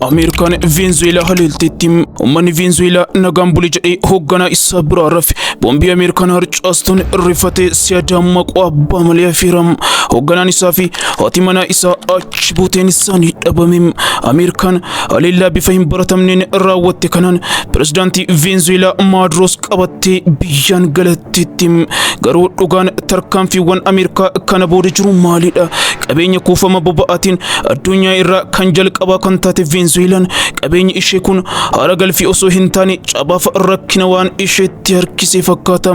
Ameerikaan Veenzuweelaa haleelteetti uummanni Veenzuweelaa nagaan buli jedhee hoogganaa isaa biraa rafe boombii Ameerikaan harcaastuun rifatee siyadaa maquu abbaa malee hafeera. Hoogganaan isaa fi haati manaa isaa achi buuteen isaanii dhabame. Ameerikaan haleellaa bifa hin baratamneen raawwatte kanaan pirezidaantii Veenzuweelaa Maaduroos qabattee biyyaan galatte. Titti. Garuu dhugaan tarkaanfiiwwan Ameerikaa kana booda jiru maalidha? Qabeenya kuufama boba'aatiin addunyaa irraa kan jalqabaa kan taate Veenzuweelaan qabeenyi ishee kun haara galfii osoo hin taane cabaaf rakkina waan isheetti harkisee fakkaata.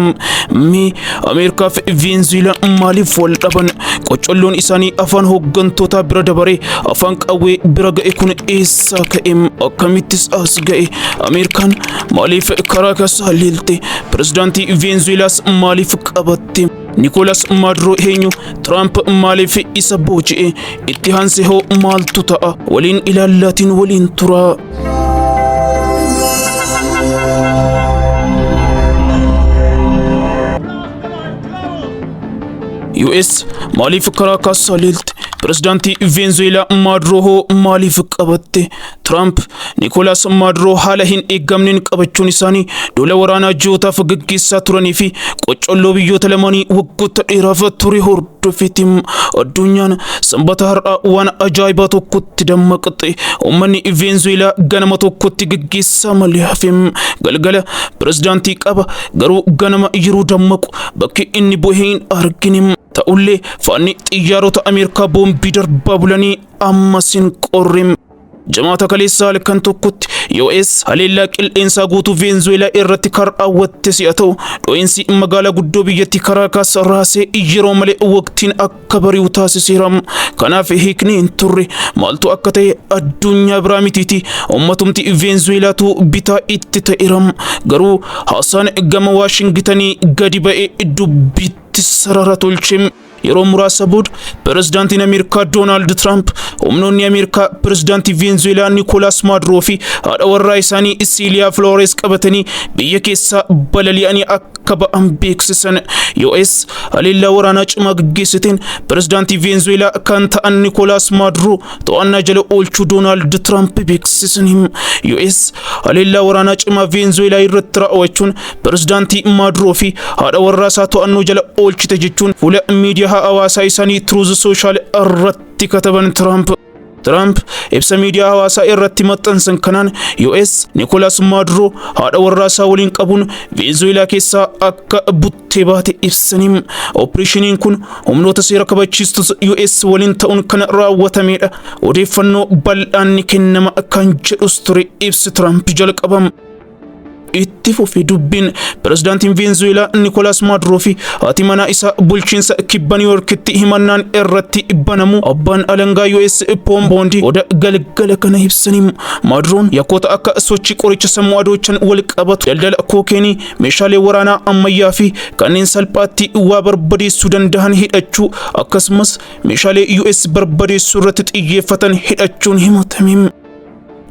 Mee Ameerikaa fi Veenzuweelaan maaliif wal dhaban? Qoccolloon isaanii afaan hooggantootaa bira dabaree afaan qawwee bira ga'e kun eessaa ka'e? Akkamittis as ga'e? Ameerikaan maaliif karaa kasaa leelte? Pirezidaantii Veenzuweelaas maaliif qabatte? Nikoolas Maaduroo eenyu? Tiraamp maaliif isa booji'e? Itti aansee hoo maaltu ta'a? Waliin ilaallaatiin waliin turaa. US maaliif karaa kaassaa leelte? Pirezidaantii Veenzuweelaa Maaduroo hoo maaliif qabatte? Tiraamp Nikoolaas Maaduroo haala hin eeggamneen qabachuun isaanii duula waraanaa ji'ootaaf gaggeessaa turanii fi qoccolloo biyyoota lamaanii waggoota dheeraaf ture hordofeeti. Addunyaan sanbata har'aa waan ajaa'ibaa tokkotti dammaqxe. Uummanni Veenzuweelaa ganama tokkotti gaggeessaa malee hafe. Galgala pirezidaantii qaba garuu ganama yeroo dammaqu bakki inni bu'e hin argine. Ta'ullee faanni xiyyaarota Ameerikaa boombii darbaa bulanii Amma sin qorrim. Jamaata kaleessaa halkan tokkotti US haleellaa qilleensaa guutuu Veenzuweelaa irratti kan raawwatte si'a ta'u, dho'insi magaalaa guddoo biyyattii Karaakaas raasee yeroo malee waqtiin akka bari'u taasiseera. Kanaaf hiikni hin turre maaltu akka ta'e addunyaa biraa mitiiti. Ummatumti Veenzuweelaatu bitaa itti ta'eera. Garuu haasaan gama Waashingitanii gadi ba'ee dubbiitti sarara tolche. Yeroo muraasa booda pirezidaantiin Ameerikaa Doonaald Tiraamp humnoonni Ameerikaa pirezidaantii Veenzuweelaa Nikoolaas Maaduroo fi haadha warraa isaanii Isiiliyaa Filoores qabatanii biyya keessaa balali'anii akka ba'an beeksisan. US haleellaa waraanaa cimaa gaggeessiteen pirezidaantii Veenzuweelaa kan ta'an Nikoolaas Maaduroo to'annaa jala oolchuu Doonaald Tiraamp beeksisaniiru. US haleellaa waraanaa cimaa Veenzuweelaa irratti raawwachuun Pirezidaantii Maaduroo fi haadha warraa isaa to'annoo jala oolchite jechuun fuula miidiyaa hawaasaa isaanii Truth Social irratti kataban Tiraamp. Tiraamp ibsa miidiyaa hawaasaa irratti maxxansan kanaan US Nikolaas Maaduroo haadha warraa isaa waliin qabuun Venezuweelaa keessaa akka buttee baate ibsanii opereeshiniin kun humnoota seera kabachiistus US waliin ta'uun kan raawwatameedha. Odeeffannoo bal'aan ni kennama kan jedhus ture ibsi Tiraamp jalqabam. itti fufi dubbiin pirezidaantiin veenzuweelaa nikolaas maaduroo fi haati manaa isaa bulchiinsa kibba niwuyoorkitti himannaan irratti banamu abbaan alangaa us poom boondi oda galgala kana ibsanii maaduroon yakkoota akka sochii qoricha sammuu adoochan wal qabatu daldala kookeenii meeshaalee waraanaa ammayyaa fi kanneen salphaatti waa barbadeessuu danda'an hidhachuu akkasumas meeshaalee us barbadeessuu irratti xiyyeeffatan hidhachuun himatame.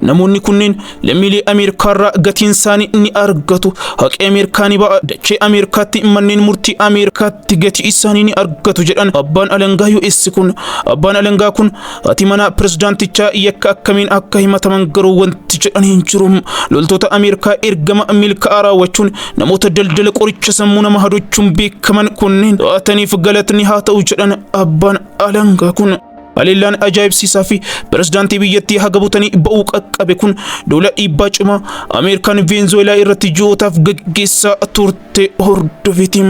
Namoonni kunneen lammiilee Ameerikaarraa gatiinsaanii ni argatu. Haqi Ameerikaa ni ba'a. Dachee Ameerikaatti manneen murtii Ameerikaatti gatii isaanii ni argatu jedhan abbaan alangaa US kun. Abbaan alangaa kun haati manaa pirezidaantichaa yakka akkamiin akka himataman garuu wanti jedhan hin jiru. Loltoota Ameerikaa ergama milkaa'aa raawwachuun namoota daldala qoricha sammuu nama hadochuun beekaman kunneen to'ataniif galatni haa ta'u jedhan abbaan alangaa kun. Haleellaan ajaa'ibsiisaa fi pirezidaantii biyyattii haga butanii ba'uu qaqqabe kun duula dhiibbaa cimaa Ameerikaan Veenzuweelaa irratti ji'ootaaf gaggeessaa turte hordofiti.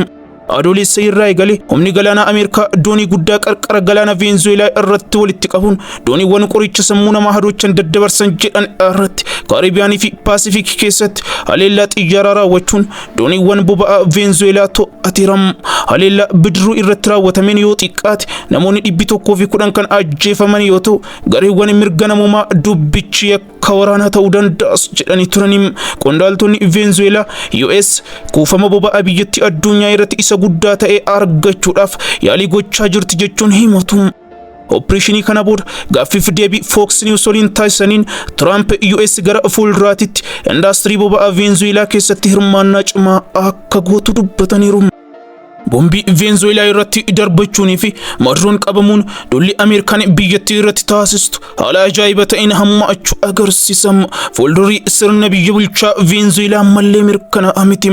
Adoolessa irraa eegalee humni galaanaa Ameerikaa doonii guddaa qarqara galaana Veenzuweelaa irratti walitti qabuun dooniiwwan qoricha sammuu namaa hadoochan daddabarsan jedhan irratti Kaaribiyaanii fi Paasifiik keessatti haleellaa xiyyaaraa raawwachuun Dooniiwwan boba'aa Veenzuweelaa to'ateera. Haleellaa bidiruu irratti raawwatameen yoo xiqqaate namoonni dhibbi tokkoo fi kudhan kan ajjeefaman yoo ta'u gareewwan mirga namoomaa dubbichi yakka waraanaa ta'uu danda'as jedhanii turani. Qondaaltonni Veenzuweelaa US kuufama boba'aa biyyattii addunyaa irratti isa guddaa ta'e argachuudhaaf yaalii gochaa jirti jechuun himatu. Oppireeshinii kana booda gaaffiif deebii Fox News waliin taasisaniin Tiraamp US gara fuulduraatitti indaastirii boba'aa Veenzuweelaa keessatti hirmaannaa cimaa akka gootu dubbataniiru. Bombii Veenzuweelaa irratti darbachuunii fi Maduroon qabamuun duulli Ameerikaan biyyattii irratti taasistu haala ajaa'iba ta'een hammaachuu agarsiisa. Fuuldurri sirna biyya bulchaa Veenzuweelaa ammallee mirkanaa'aa miti.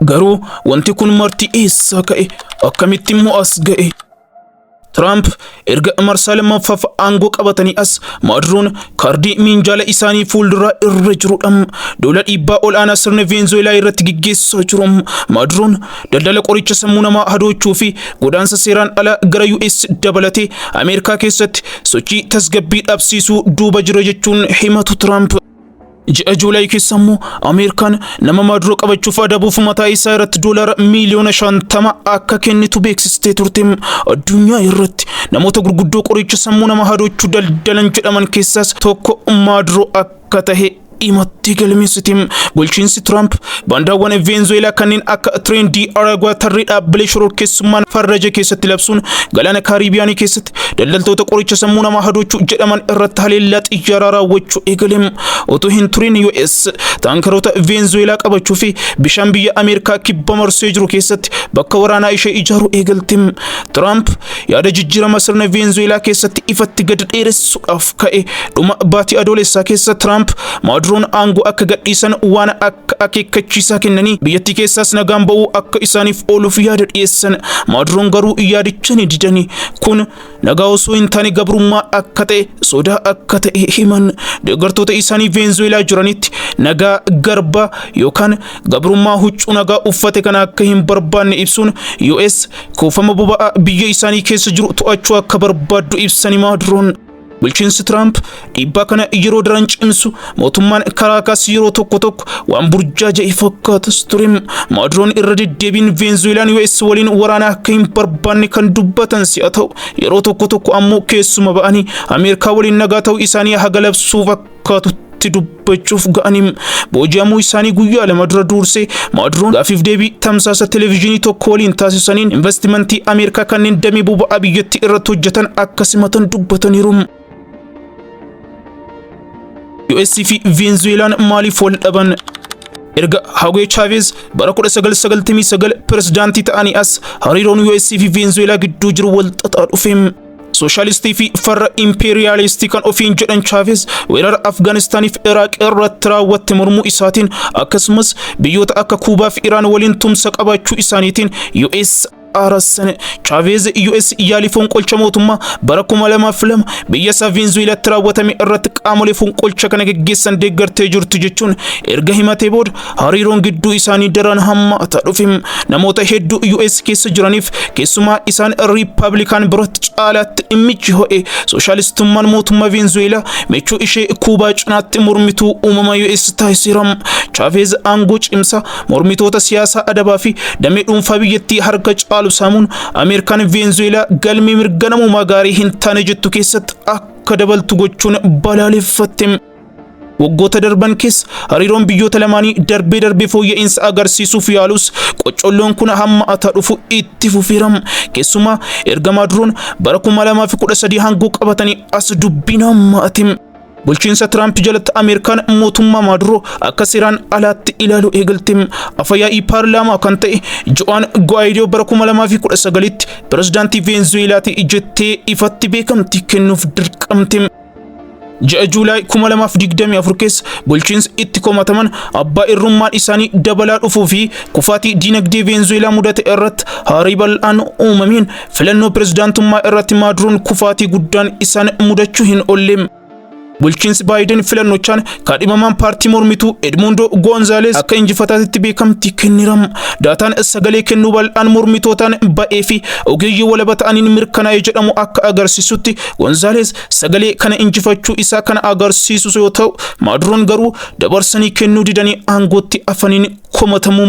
Garuu wanti kun marti eessaa ka'e? Akkamitti immoo as ga'e? Tiraamp erga marsaa lammaffaaf aangoo qabatanii as Maaduroon kaardii miinjaala isaanii fuulduraa irra jirudha. Duula dhiibbaa ol'aanaa sirni Veenzuweelaa irratti gaggeessaa jiru. Maaduroon daldala qoricha sammuu namaa hadoochuu fi godaansa seeraan alaa gara US dabalatee Ameerikaa keessatti sochii tasgabbii dhabsiisuu duuba jira jechuun himatu Tiraamp. Ji'a Juulaay keessa immoo Ameerikaan nama Maaduroo qabachuuf adabuuf mataa isaa irratti doolaara miiliyoona shantama akka kennitu beeksistee turte. Addunyaa irratti namoota gurguddoo qoricha sammuu nama hadoochu daldalan jedhaman keessaas tokko Maaduroo akka tahe himattee galmeessite. Bulchiinsi Tiraamp baandaawwan Veenzuweelaa kanneen akka Tireen Di Aragwaa tarree dhaabbilee shororkeessummaan farraja keessatti labsuun galaana Kaaribiyaanii keessatti daldaltoota qoricha sammuu namaa hadoochuu jedhaman irratti haleellaa xiyyaaraa raawwachuu eegaleem utuu hin turin US taankaroota Veenzuweelaa qabachuu fi bishaan biyya Ameerikaa kibba marsee jiru keessatti bakka waraanaa ishee ijaaruu eegalteem. Tiraamp yaada jijjiirama sirna Veenzuweelaa keessatti ifatti gad dheeressuudhaaf ka'e dhuma baatii adoolessaa keessa Tiraamp Maaduroon aangoo akka gadhiisan waan akka akka akeekkachiisaa kennanii biyyattii keessaas nagaan ba'uu akka isaaniif ooluuf yaada dhiyeessan maadroon garuu yaadicha ni didani kun nagaa osoo hin taane gabrummaa akka ta'e sodaa akka ta'e himan deeggartoota isaanii veenzuweelaa jiranitti nagaa garbaa yookaan gabrummaa huccuu nagaa uffate kana akka hin barbaanne ibsuun US kuufama boba'aa biyya isaanii keessa jiru to'achuu akka barbaaddu ibsani maadroon. Bulchiinsi Tiraamp dhiibbaa kana yeroo daran cimsu mootummaan Karaakaas yeroo tokko tokko waan burjaaja'e fakkaatas ture. Maaduroon irra deddeebiin Veenzuweelaan US waliin waraana akka hin barbaanne kan dubbatan si'a ta'u yeroo tokko tokko ammoo keessuma ba'anii Ameerikaa waliin nagaa ta'uu isaanii haga labsuuf akka fakkaatutti irratti dubbachuuf ga'aniim booji'amuu isaanii guyyaa lama dura duursee maaduroon gaafiif deebii tamsaasa televezyiinii tokko waliin taasisaniin investimentii ameerikaa kanneen damee boba'aa biyyattii irratti hojjetan akka simatan dubbataniiru. US fi Venezuelaan maaliif wal dhaban? erga Hagwe Chavez bara 1999 pirezidaantii ta'anii as hariiroon US fi Venezuelaa gidduu jiru wal xaxaa dhufeem. Sooshaalistii fi farra impeeriyaalistii kan ofiin jedhan Chaaveez weerara Afgaanistaaniif Iraaq irratti raawwatte mormuu isaatiin akkasumas biyyoota akka Kuubaa fi Iraan waliin tumsa qabaachuu isaaniitiin US aarassan Chaaveez US yaalii fonqolcha mootummaa bara 2002 biyya isaa Veenzuweelaatti raawwatame irratti qaamolee fonqolcha kana geggeessan deeggartee jirtu jechuun erga himatee booda Hariiroon gidduu isaanii daraan hammaataa dhufe. Namoota hedduu US keessa jiraniif keessumaa isaan Riippaabilikaan biratti caalaatti dhimmichi ho'e. Sooshaalistummaan mootummaa Veenzuweelaa michuu ishee Kuubaa cinaatti mormituu uumama US taasiseera. Chaaveez aangoo cimsaa mormitoota siyaasaa adabaa fi damee dhuunfaa biyyattii harka caalu saamuun Ameerikaan Veenzuweelaa galmee mirga namoomaa gaarii hin taane jettu keessatti akka dabaltu gochuun balaaleffatte. Waggoota darban keessa hariiroon biyyoota lamaanii darbee darbee fooyya'insa agarsiisuuf yaalus qoccolloon kun hamma ataa dhufu itti fufeeram. Keessumaa erga Maaduroon bara 2013 hangoo qabatanii as dubbiin hamma atim. Bulchiinsa Tiraamp jalatti Ameerikaan mootummaa Maaduroo akka seeraan alaatti ilaalu eegalte. Afayaa'ii paarlaamaa kan ta'e Jo'aan Guwaayidoo bara 2019tti pirezidaantii Veenzuweelaati jettee ifatti beekamtii kennuuf dirqamte. Ji'a Juulaay 2024 keessa bulchiinsi itti komataman abbaa irrummaan isaanii dabalaa dhufuu fi kufaatii diinagdee Veenzuweelaa mudate irratti haarii bal'aan uumameen filannoo pirezidaantummaa irratti Maaduroon kufaatii guddaan isaan mudachuu hin oolle. Bulchiinsi Baayiden filannochaan kaadhimamaan paartii mormituu Edmundo Goonzaalees akka injifataatitti beekamtii kenniram. Daataan sagalee kennuu bal'aan mormitootaan ba'ee fi ogeeyyii walaba ta'aniin mirkanaa'e jedhamu akka agarsiisutti Gonzaaleez sagalee kana injifachuu isaa kana agarsiisus yoo ta'u, Maaduroon garuu dabarsanii kennuu didanii aangootti afaniin komatamuu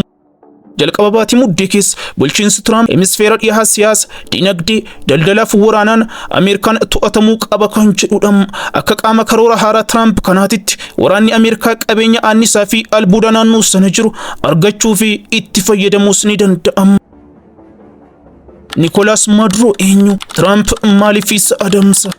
Jalqaba baatii muddee keessa bulchiinsi Tiraamp hemisfeera dhihaa siyaasa, dinagdee, daldalaa fi waraanaan Ameerikaan to'atamuu qaba kan jedhudha. Akka qaama karoora haaraa Tiraamp kanaatitti waraanni Ameerikaa qabeenya aannisaa fi albuuda naannoo sana jiru argachuu fi itti fayyadamuus ni danda'ama. Nikoolaas Maaduroo eenyu? Tiraamp maaliif isa adamsa?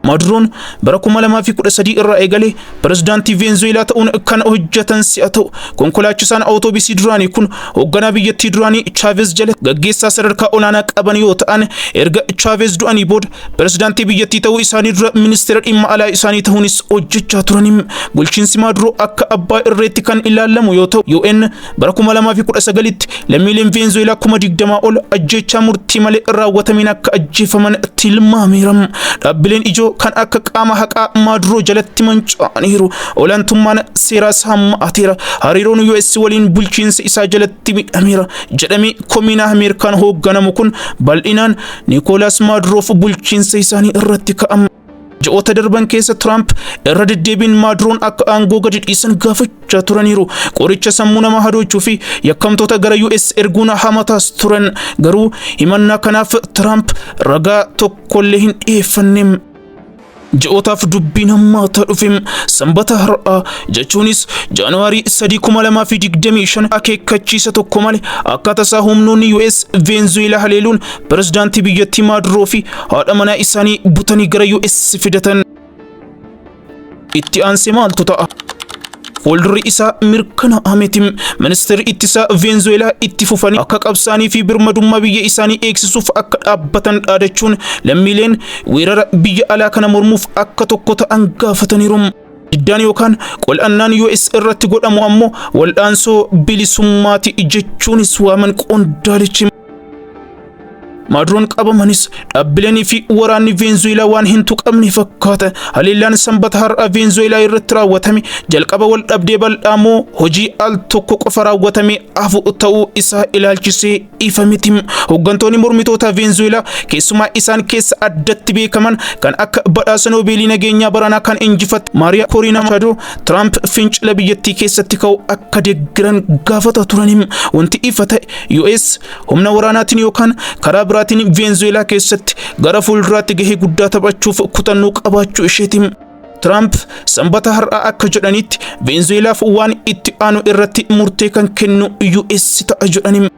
Maaduroon bara 2013 irraa eegalee pirezidaantii Veenzuweelaa ta'uun kan hojjetan si'a ta'u, konkolaachisaan awutoobisii duraanii kun hoogganaa biyyattii duraanii Chaaveez jala gaggeessaa sadarkaa olaanaa qaban yoo ta'an, erga Chaaveez du'anii booda pirezidaantii biyyattii ta'uu isaanii dura ministeera dhimma alaa isaanii ta'uunis hojjechaa turani. Bulchiinsi Maaduroo akka abbaa irreetti kan ilaalamu yoo ta'u, UN Bara 2019tti lammiileen Veenzuweelaa kuma digdamaa ol ajjeechaa murtii malee raawwatameen akka ajjeefaman tilmaameera. Dhaabbileen ijoo kan akka qaama haqaa Maaduroo jalatti manca'aniiru. Olaantummaan seeraas hammaateera. Hariiroon US waliin bulchiinsa isaa jalatti midhameera. Jedhamee komiinaa Ameerikaan hoogganamu kun bal'inaan Nikoolaas Maaduroof bulchiinsa isaanii irratti ka'ama. Ji'oota darban keessa Tiraamp irra deddeebiin Maaduroon akka aangoo gadi dhiisan gaafachaa turaniiru. Qoricha sammuu nama hadoochuu fi yakkamtoota gara US erguun hamataas turan. Garuu himannaa kanaaf Tiraamp ragaa tokkollee hin dhiyeeffanne. Ji'ootaaf dubbiin hammaataa dhufe sanbata har'aa jechuunis Jaanuwaarii 3,2025 akeekkachiisa tokko malee akkaataa isaa humnoonni US Veenzuweelaa haleeluun Pirezidaantii biyyattii Maaduroo fi haadha manaa isaanii butanii gara US fidatan. Itti aansee maaltu ta'a? Fuuldurri isaa mirkanaa'aa miti. Ministeerri ittisaa Veenzuweelaa itti fufanii akka qabsaanii fi birmadummaa biyya isaanii eegsisuuf akka dhaabbatan dhaadachuun lammiileen weerara biyya alaa kana mormuuf akka tokko ta'an gaafataniiru. Diddaan yookaan qol'annaan US irratti godhamu ammoo wal'aansoo bilisummaati jechuunis waaman qondaalichi. Maaduroon qabamanis dhaabbileenii fi waraanni Veenzuweelaa waan hin tuqamne fakkaata. Haleellaan sanbata har'aa Veenzuweelaa irratti raawwatame jalqaba wal dhabdee bal'aa moo hojii al tokko qofa raawwatamee hafu ta'uu isaa ilaalchisee ifa miti. Hooggantoonni mormitootaa Veenzuweelaa keessumaa isaan keessa addatti beekaman kan akka badhaasa Noobeelii nageenyaa baranaa kan injifatte Maariyaa Koriinaa Machaadoo Tiraamp fincila biyyattii keessatti ka'u akka deeggaran gaafataa turaniim. Wanti ifa ta'e US humna waraanaatiin yookaan karaa biraatiin Veenzuweelaa keessatti gara fuulduraatti gahee guddaa taphachuuf kutannoo qabaachuu isheetiim. Tiraamp sanbata har'aa akka jedhanitti Veenzuweelaaf waan itti aanu irratti murtee kan kennu US ta'a jedhani.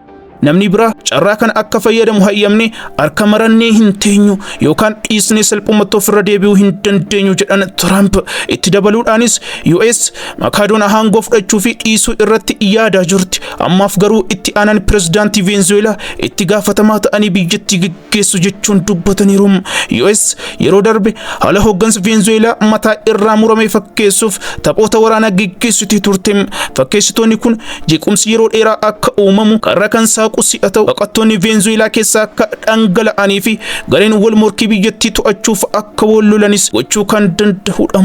Namni biraa carraa kana akka fayyadamu hayyamne harka marannee hin teenyu yookaan dhiisnee salphumatti ofirra deebi'uu hin dandeenyu jedhan Tiraamp. Itti dabaluudhaanis US Makaadoon aangoo fudhachuu fi dhiisuu irratti yaadaa jirti. Ammaaf garuu itti aanan pirezidaantii Veenzuweelaa itti gaafatamaa ta'anii biyyattii geessu jechuun dubbataniiru. US yeroo darbe haala hooggansa Veenzuweelaa mataa irraa murame fakkeessuuf taphoota waraanaa geggeessitee turte. Fakkeessitoonni kun jeequmsi yeroo dheeraa akka uumamu karra kan saaqu si'a ta'u baqattoonni Veenzuweelaa keessaa akka dhangala'anii fi gareen wal morkii biyyattii to'achuuf akka wal lolanis gochuu kan danda'udha.